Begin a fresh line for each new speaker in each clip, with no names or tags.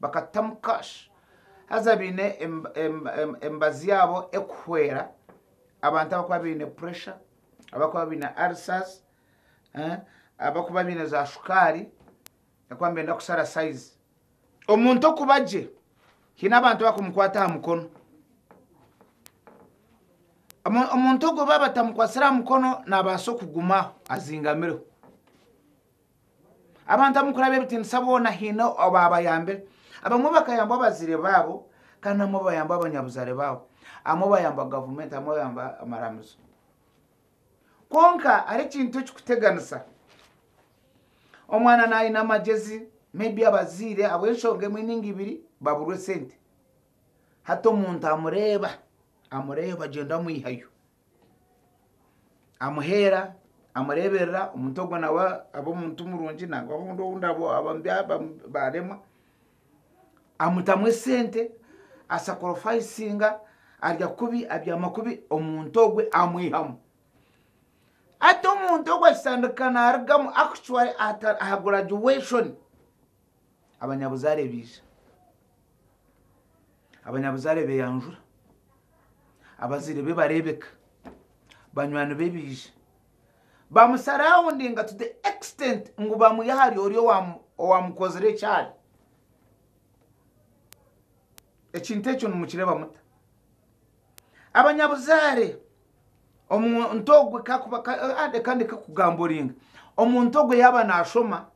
bakatutamu cash haza baine emibazi yaabo erikuhwera abantu abarikuba baine pressure, abarikuba baine ulcers, abarikuba baine za shukaari abarikuba nibenda kushara size. Omuntu okuba gye haine abantu abakumukwata aha mukono, omuntu ogwo baaba batamukwatsire aha mukono naabaasa okugumaho azingamireho. Abantu ab'omukuraba ebitiinisa boona haine obaabayambire. Abamwe bakayambwa abazaire baabo kandi abamwe bayambwa abanyabuzaare baabo. Abamwe bayambwa gavumenti, abamwe bayambwa amaramizo. Kwonka hariho ekintu ekirikuteganisa. Omwana naayine amagyezi, maybe abazaire ahabw'enshonga emwe nainga ibiri baburwa esente. Hati omuntu amureeba, amureeba agyenda amwihayo. amuheera amureeberera omuntu ogwo nawe aba omuntu murungi nangwa obundi ou baremwa amutamu esente asakorofayisinga arya kubi abyama kubi omuntu ogwo amwihamu hati omuntu ogwo akitandika naarugamu actually aha guraduation abanyabuzaare baija Abanyabuzaare beeyanjura, abazaire be bareebeka, banywani be baija. Bamusaraawundinga to the extent ngu bamwiha ahari ori owaamukozire ekyari. Ekintu ekyo nimukireeba muta? Abanyabuzaare, omuntu ogwo kaakuba reka ndeke kugamburinga. Omuntu ogwo yaaba naashoma,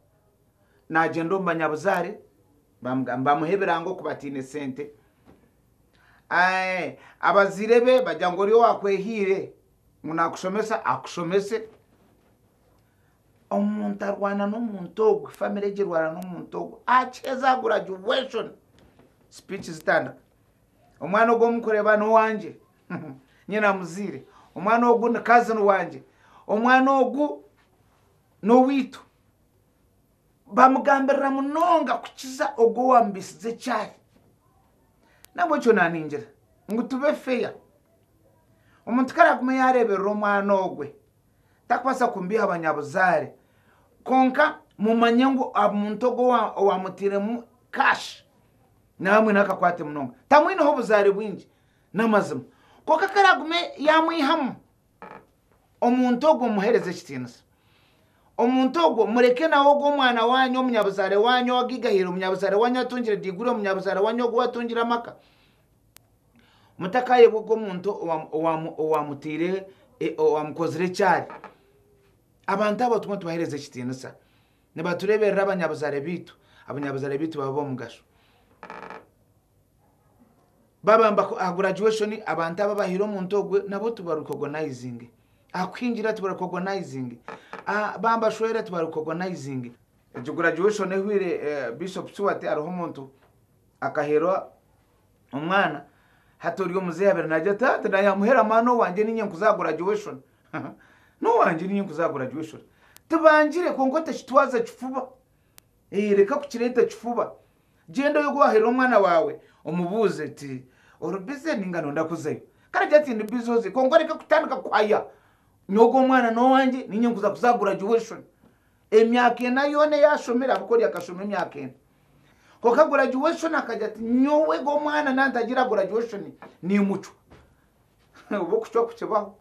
naagyenda omu banyabuzaare, Bamugamba bamuhe ebirango ku bataine sente. Abazaire be bagira ngu ori owakwehaire ngu nakushomesa akushomese. Omuntu arwana n'omuntu ogwe, family egyo erwana n'omuntu ogwe. Akiheza graduation, speech zitandika. Omwana ogu omukureba n'owangye, nyine amuzaire. Omwana ogu ni cousin wangye. Omwana ogu n'oweitu. Baamugambirira munonga kukiza ogwo owaamubiisize ekyaahi. Nahabw'ekyo naaningira ngu tube feya, omuntu ku araagume yaareeberera omwana ogwe, tarikubaasa kumubiiha banyabuzaare. Kwonka mumanye ngu omuntu ogwo owaamutairemu kaashi nawe amwineho akakwate munonga. Tamwineho buzaare bwingi, n'amazima. Kwonka ku araagume yaamwihamu, Omuntu ogwo muhereze ekitiinisa. Omuntu ogwo mureke nawe ogwo omwana wanyu, omunyabuzaare wanyu owagaigahiire, omunyabuzaare wanyu atungire diiguri, omunyabuzaare wanyu ogu watungire amaka. Mutakaayebwa ogwo omuntu owamutaire e, owamukozire ekyari. Abantu abo tumwe tubahereze ekitiinisa. Nibatureeberera abanyabuzaare baitu, abanyabuzaare baitu baba b'omugasho. babamba aha graduation abantu aba bahire omuntu ogwe nabo tibaricogonizinge aha kuhingira tibaricogonizinge bambashwera tibaricogonizinge egyo graduation ehwire eh, bishop siwati hariho omuntu akaherwa omwana hati ori omuzehe abere nagira tata naye amuhera mwana owangye ninye nkuza aha graduation nowangye ninye nkuza aha graduation tibangire kwonka otekitwaza kifuba Ee, reka kukireeta ekifuba. Gyenda oyoge owaherera omwana waawe, omubuuze oti, Ori bize nainga nooyenda kuzayo? Kare gira ati, Ndi bize oze, kwonka oreke kutandika kuhaya ngu ogu omwana n'owangye, nainga nkuza kuza aha guragyuweshoni. Emyaka ena yoona ei ashomire, ahabw'okuba ori akashoma emyaka ena. Kwonka guragyuweshoni akagira ati, Nyowe ogu omwana naatagira aha guragyuweshoni, niimucwa. Oba okucwa kukibaho,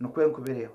nikwo ndikubireeba.